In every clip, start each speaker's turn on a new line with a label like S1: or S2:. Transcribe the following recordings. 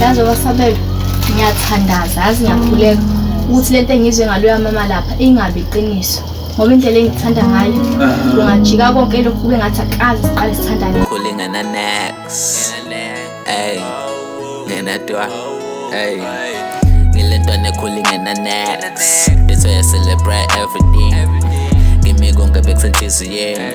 S1: yazi wasabela ngiyathandaza yazi ngiyakhuleka ukuthi lento engizwe ngaloya mama lapha ingabi iqiniso ngoba indlela engithanda ngayo kungajika konke lokhu kube ngathi akazi siqale sithandane kulingana next
S2: ey ngenadwa ey ngilentwana ekhulingana next into ya celebrate everything ngimi konke bekusenhliziyeni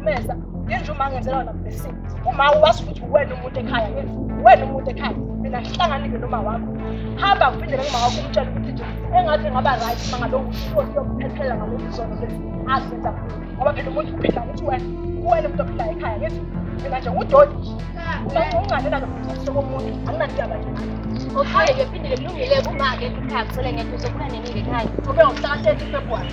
S3: Meza, ngenje uma ngenzela wena blessing. Uma uwazi ukuthi uwena umuntu ekhaya yini? Uwena umuntu ekhaya. Mina ngihlanganile noma wakho. Hamba kuphindele kuma wakho umtshela ukuthi nje engathi ngaba right uma ngabe ukhona yokuphephela ngalezi zono lezi. Azenza kulo. Ngoba phela umuntu uphila ukuthi wena uwena umuntu ophila ekhaya yini? Mina nje udodi. Uma ungane nalo mthetho womuntu, anginandaba nje. Okay, ngiphindile kulungile kuma-ke ekhaya kusele ngeke uzokubona nenike ekhaya. Ube ngomhla ka-30 February.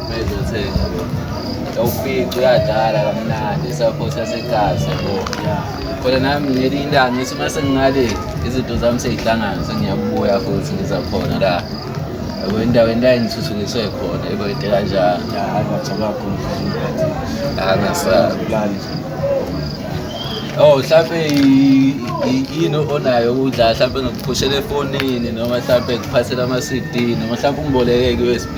S4: Mezothenga yawufica uyadala kamnandi esaphothi yasegazi yabo khona nami ngelinye ilanga ngithi uma sengingale izinto zami seyihlangana sengiyakubuya futhi ngiza khona la yabo endaweni la engithuthukiswe khona yabo into kanjalo Ya, hayi ngajabula kakhulu mfana. angasabi Kulali. Oh mhlampe i- i- yini onayo ukudla mhlampe ngikuphushela efonini noma mhlampe ngikuphathela ama-CD noma mhlampe ungiboleke i-USB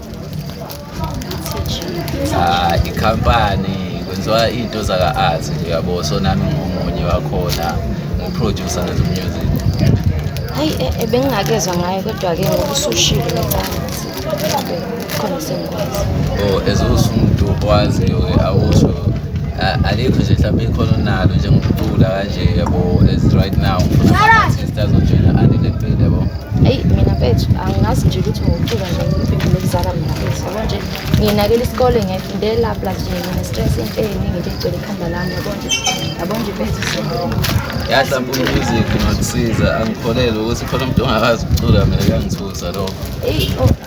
S4: Ah, ikhampani kwenziwa iy'nto zaka-art nje yabo so nami ngomunye wakhona ngiwuprodusa ngezo music hayi
S1: e- e, bengingakezwa ngayo kodwa-ke ngoba usushilo ngebanzi khona sengikwazi o as
S4: usumuntu owaziyo-ke awusho a- alikho nje mhlawumbe ikhona onalo njengokucula kanje yabo as right now ngifuna ama-artist azojoyina andile mpilo yabo eyi mina mfethu
S1: angazi nje ukuthi ngokucuka nje impimpi lokuzala mina mfethu yabo nje nginakela isikole ngiyayifundela plus nje ngine-stress into eyiningi nje egcwele ikhanda lami yabo nje yabo nje mfethu yahlampe
S4: umusic nokusiza angikholelwe ukuthi khona umuntu ongakazi ukucula mina kuyangithusa lokho eyi oh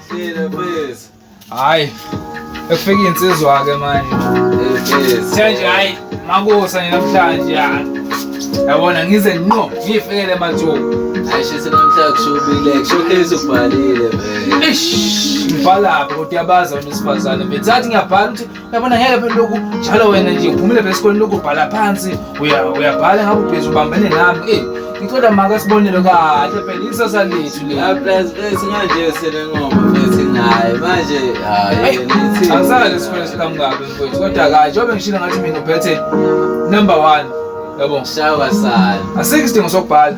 S4: hayi
S5: ekufika iy'nsizwa-ke manje kuthe nje hhayi makusa nje namhlanje yabona ngize nqo ngiyifikele emathuba ayishise namhlanje
S4: kushubile kushowcase ubhalile vele ngibhalaphi
S5: kodwa yabazi abantu besifazane bethathi ngiyabhala ukuthi Yabona ngeke phela lokhu njalo wena nje uphumile phela esikoleni lokhu ubhala phansi uya uyabhala ngabe ubhizi ubambene nami. Eh ngicela maka sibonele kahle phela isasa lethu le. Ah, plus bese manje
S4: selengoma bese ngaye manje hayi nithi. Angisala lesikole
S5: sikamkabi mfowethu kodwa kahle njengoba ngishilo ngathi mina uphethe number 1 yabo. Shawa sala.
S4: Asikho isidingo sokubhala.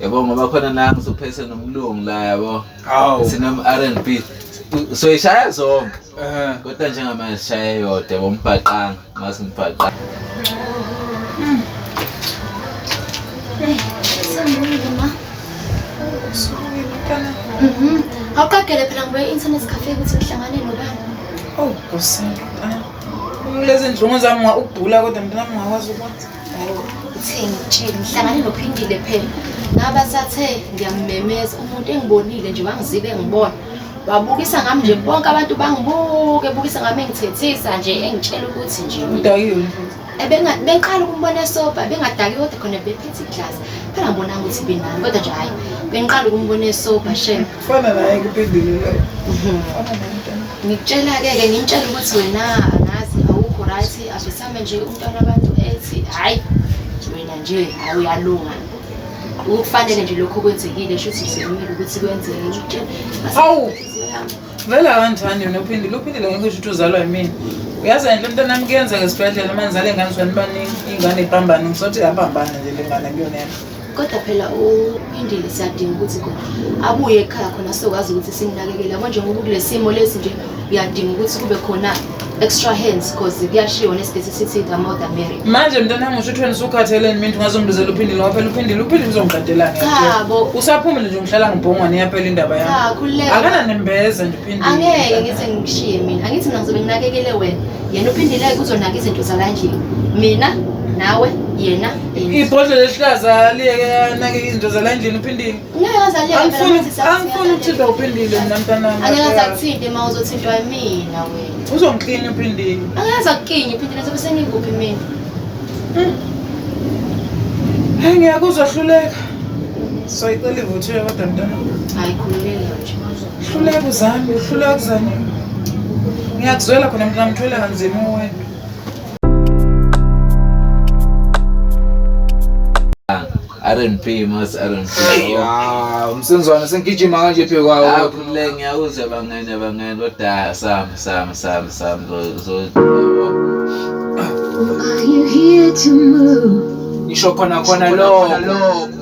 S4: yabo ngoba khona nangu suphethe nomlungu la yabo sinom R&B soyishaya zonke kodwa njengamanje sishaye yodwa yabo mbhaqanga ngathi mbhaqanga Mm-hmm.
S1: awuqagele phela ngoba
S6: i-internet cafe ukuthi ngihlangane nobani oh nkosi ah. lezi nhlungu zami ugula kodwa mntanami ngakwazi ukuthi Uthini
S1: ngitshile ngihlangane nophindile phela ngaba sathe ngiyamemeza umuntu engibonile nje wangizibe ngibona wabukisa ngami nje bonke abantu bangibuke bukisa ngami engithethisa nje engitshela ukuthi nje udayile
S6: bengiqala
S1: ukumbona esobha bengadaki kodwa khona bephethe iglasi phela ngibona ukuthi benani kodwa nje hhayi bengiqala ukumbona esobha shem Fana naye kuphendulile.
S6: Ngikutshela
S1: ke ke ngimtshela ukuthi wena angazi awukho right asithame nje umntwana abantu ethi hayi wena nje awuyalunga. Ukufanele nje lokho kwenzekile shuthi sikumele ukuthi
S6: kwenzeke ngitshela. Awu. Vela kanjani yona uphindile uphindile ngeke usho ukuthi uzalwa yimina. Uyazi nje umntwana nami kuyenzeka esibhedlela uma ngizale ingane zani baningi ingane iphambane ngisothi yapambana nje le ngane kuyona. kodwa phela
S1: uphindile siyadinga ukuthi khona abuye ekhaya khona sizokwazi ukuthi simnakekele yabo njengoba ukule simo lesi nje uyadinga ukuthi kube khona extra hands because kuyashiwo nesibhesi sithi the mother mary manje mntana ngisho
S6: uthweni usukhatheleni mina ungazongibizela uphindile waphela uphindile uphindile uzongiqedelani chabo usaphumile
S1: nje ngihlala
S6: ngibhongwane iyaphela indaba yami cha khululeka
S1: akananembeza nje
S6: uphindile angeke ngithi ngishiye
S1: mina angithi mina ngizobe nginakekele wena yena uphindile-ke uzonaka izinto zalandlini mina nawe yena ibhodlela
S6: elihlaza liyeke anake izinto zala endlini uphindile
S1: angifuni
S6: ukuthintwa uphindile mina mntanami
S1: uzongiklinya uphindile
S6: hayi ngiyakuzwa hluleka so icela ivuthiwe kodwa mntana
S1: hluleka uzame
S6: hluleka uzame ngiyakuzwela khona mntanami thwele kanzima uwena
S4: R&B mas R&B. Ah, umsenzwana
S5: sengigijima kanje phe kwawo. Akhulule ngiyawuze
S4: bangene bangene kodwa sam sam sam sam zo. Are you
S7: here to move? Ngisho khona khona
S5: lokho.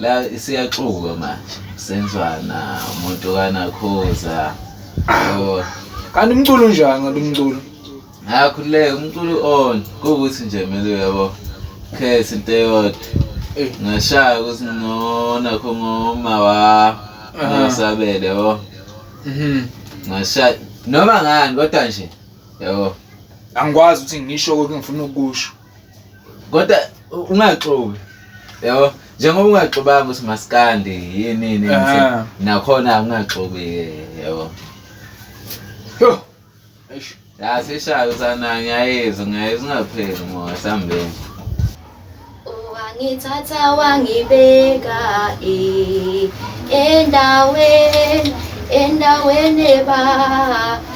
S4: la siyaxuba manje senzwana umuntu kanakhoza oh.
S5: kanti umculo unjani kanti umculo ngakhululeka
S4: umculo on kuwukuthi nje mele uyabo khetha into eyodwa eh. ngashaya ukuthi ngona kho ngoma wa ngasabele yabo mhm. ngashaya noma ngani kodwa nje yabo angikwazi
S5: ukuthi ngisho konke ngifuna ukusho kodwa
S4: ungaxoki yabo njengoba ungaxobanga ukuthi masikandi yini yini Ah. nakhona ungaxoki yabo
S5: Yo.
S4: Eish. la sishaya usana ngiyayizwa ngiyayizwa ungapheli moya sambeni Wangithatha
S1: wangibeka eh, endaweni endaweni ba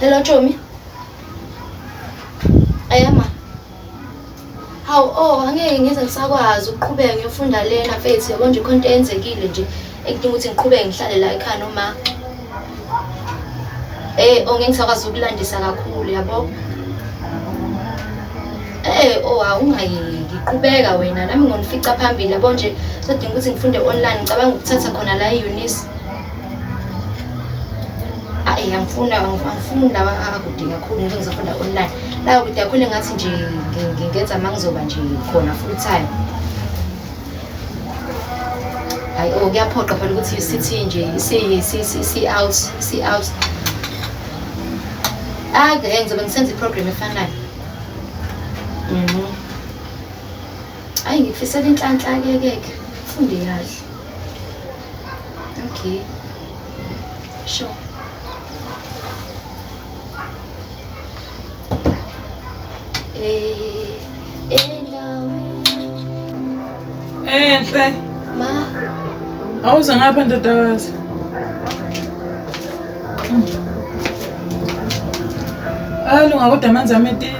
S1: Hello Chomi. Ayama. Hawu oh angeke ngize ngisakwazi ukuqhubeka ngiyofunda lena mfethu yabo nje khonto eyenzekile nje ekudinga ukuthi ngiqhubeke ngihlale la ekhaya noma Eh ongeke ngisakwazi ukulandisa kakhulu yabo. Eh oh awungayeki qhubeka wena nami ngonifica phambili yabo nje sodinga ukuthi ngifunde online ngicabanga ukuthatha khona la eUnis. Ayi angifuna angifuni lawa akude kakhulu ngeke ngizofunda online. La kude kakhulu ngathi nje ngenza mangizoba nje khona full time. hayi o oh, kuyaphoqa phela ukuthi sithi nje si-out si-out hayi ke ngizobe ngisenza i-program efanayo mhm. hayi ngikufisela inhlanhla ke keke funde kahle okay sure
S6: Enhle. Ma.
S1: Awuze
S6: ngapha ndodakazi. Alunga kodwa amanzi ametile.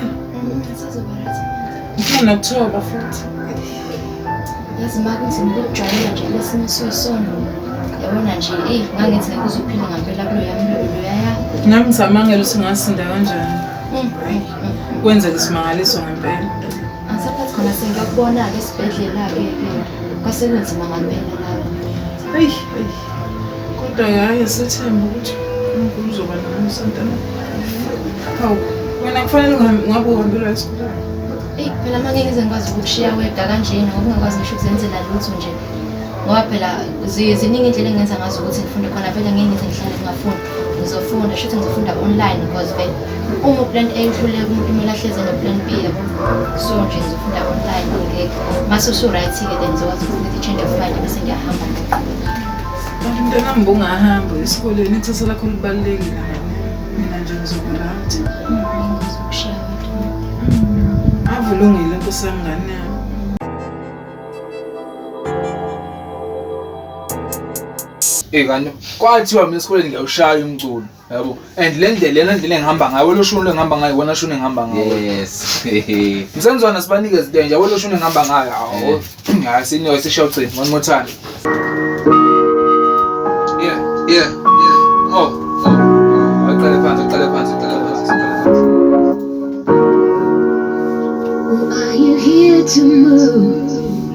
S6: Ngifuna ukuthoba futhi.
S1: Yazi maka ukuthi ngikujwayela nje lesinye isisono. Yabona nje, eyi ngangithi ngeke uzophila ngampela kulo yami lolo yaya. Nami ngisamangela
S6: ukuthi ngasinda kanjani. Mm, mm, mm. Kwenzeka isimangaliso ngempela. Angisaphathi khona
S1: sengiyakubona-ke esibhedlela-ke ke. Kwasekunzima ngampela lapho. Eyi, eyi.
S6: Kodwa yaye sethemba ukuthi uNkulunkulu uzoba nawe Santana. Hawu, wena kufanele uhambe ngabe uhambelwa esikoleni. Eyi phela uma
S1: ngeke ngize ngikwazi ukushiya wedwa kanjena ngoba ungakwazi ngisho ukuzenzela lutho nje. Ngoba phela ziningi indlela engenza ngazo ukuthi ngifunde khona vele ngeke ngize ngihlale ngingafundi. ngizofunda shuthi ngizofunda online because vele uma uplant A uhluleka umuntu kumele ahleze noplan B yabo so nje ngizofunda online ngeke mase usu-right-ke then ngizokwazi ukuthi i-change of mind bese ngiyahamba
S6: kanti mntanami bungahamba esikolweni ithatha lakho libalulekile mina nje ngizokuranti avulungile nkosi yami ngane yami
S5: Eh kanti kwathiwa mina esikoleni ngiyawushaya umculo yabo and le ndlela lena ndlela engihamba ngayo welo shuni engihamba ngayo wona shuni engihamba ngayo yes
S4: msenzwana
S5: sibanikeza into enje welo shuni engihamba ngayo awu hayi senior sishawu cini one more time yeah yeah yeah oh oh aqale phansi aqale phansi aqale phansi Are
S7: you here to move?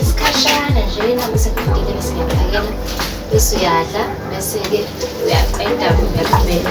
S1: isikhashana nje nami sekufikile ngisingaphakela bese uyadla bese-ke uyaqeda uyaqhubeka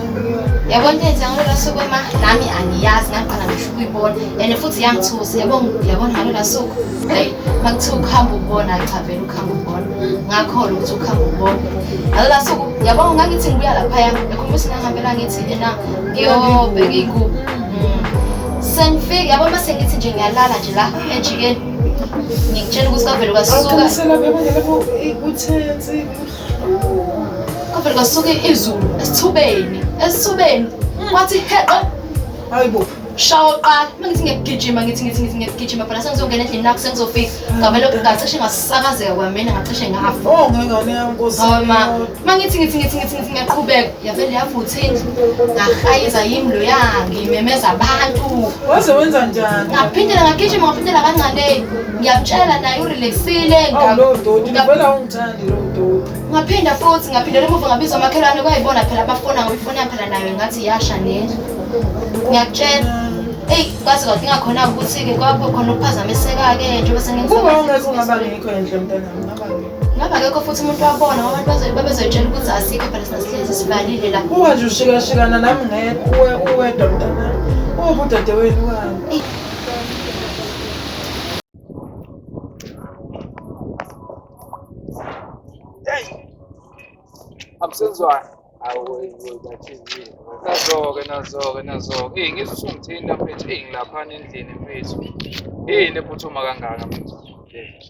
S6: yabona
S1: into yenza ngalolo suku ema nami angiyazi ngaqala ngisho ukuyibona and futhi yangithusa yabona yabona ngalolo suku hayi makuthiwa ukuhamba ukubona cha vele ukuhamba ukubona ngakholwa ukuthi ukuhamba ukubona ngalolo suku yabona ngangithi ngibuya laphaya ekhuluma ukuthi ngihambela ngithi ena ngiyobheka iy'ngubo mm. sengifike yabona mase ngithi nje ngiyalala nje la ejikeni ngikutshela ukuthi kwavele kwasuka Kodwa kwasuke izulu esithubeni, esithubeni. Wathi heqe. Hayibo.
S6: Shawo qala,
S1: uma ngithi ngiyagijima ngithi ngithi ngithi ngiyagijima phela sengizongena endlini nakho sengizofika. Ngavele ngacishe ngasakazeka kwamina ngacishe ngafa. Oh ngengane yankosi.
S6: Hawu ma, uma ngithi ngithi
S1: ngithi ngithi ngithi ngiyaqhubeka, yavele yavutha indlu. Ngahayiza yimi lo yangi, imemeza abantu. Waze wenza
S6: njani? Ngaphindela ngagijima
S1: ngaphindela kancane. Ngiyamtshela naye urelaxile. Awu lo doti,
S6: ngivela ungi Ngaphinda futhi ngaphindela
S1: emuva ngabiza omakhelwane kwayibona phela abafona ngoba ifoni yaphela nayo ngathi yasha nendlu. Ngiyakutshela. Eyi kwazi kwathi ingakhona ukuthi-ke kwakho khona ukuphazamiseka-ke njengoba sengenza. Uma ungeke ungaba
S6: ngikho endle mntanami ngaba ngikho. Ngabe akekho futhi
S1: umuntu wabona ngoba abantu bazobe babezoyitshela ukuthi asikho phela sina sihlezi sivalile la. Uma nje ushikashikana
S6: nami ngedwa uwe uwedwa mntanami. Uwubudoda wenu wani? Eyi
S5: Absenzwani. Nazo-ke nazo-ke nazo-ke. Eyi ngizwe usungithinta mfethu. Eyi ngilaphana endlini mfethu. Yini ephuthuma kangaka mfethu?
S4: Shukile.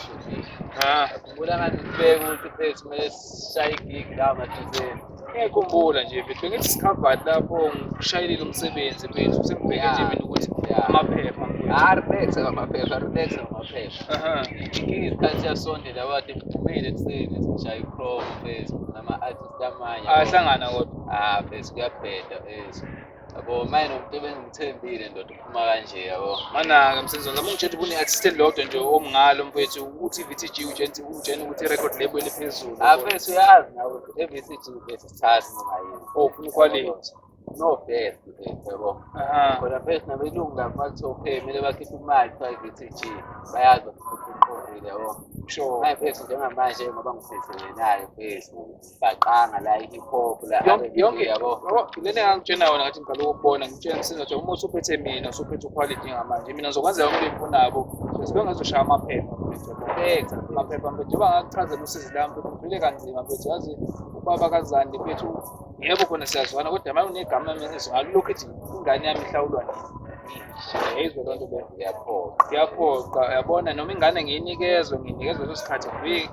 S4: Shukile. Ha. Ngibona ngathi ngibeke ukuthi mfethu kumele Sishaya igigi la mathizeni. Ngiyakhumbula nje
S5: mfethu ngithi sikhavani lapho ngishayelile umsebenzi mfethu sengibheke nje mina ukuthi amaphepha mfethu. Ah, relax
S4: ngamaphepha, relax ngamaphepha. Aha. Inkinga isikhathi siyasondela wathi ngiphumile ekuseni sishaya i-chrome mfethu nama-artist amanye. Ahlangana kodwa.
S5: Ah, mfethu kuyabheda
S4: mfethu. Yabo manje nomuntu ebengimthembile ndoda uphuma kanje yabo. Manaka msenzweni lami
S5: ngitshela ukuthi une-assistant lodwa nje omngalo mfethu u-TVTG utshela utshela ukuthi i-record label eliphezulu. Ah mfethu uyazi
S4: nawe i-VTG mfethu sithatha noma yini. Oh ufuna ikhwalithi.
S5: No best mfethu
S4: yabo. Aha. Kodwa mfethu nabelungu lapho bathi okay kumele bakhiphe imali kuthiwa i-VTG bayazi ukuthi uqondile yabo. Sure. Manje mfethu
S5: njengamanje
S4: ngoba ngiphethene nayo mfethu. bhaqanga la i-hip hop la yonke yabo
S5: lena
S4: engangitshena yona
S5: ngathi ngiqala ukubona ngitshena ngisenza nje uma usuphethe mina usuphethe uquality ngamanje mina ngizokwenza yonke into engifunako sibe ngazoshaya amaphepha benza amaphepha mfethu njengoba ngakuchazela usizi lami mfethu ngivile kanzima mfethu yazi ubaba kazandi mfethu yebo khona siyazwana kodwa manje unegama mina ngalulokhu ethi ingane yami ihlawulwa nini yayizwe loo nto beyaphoqa yabona noma ingane ngiyinikezwe nginikezwe leso sikhathi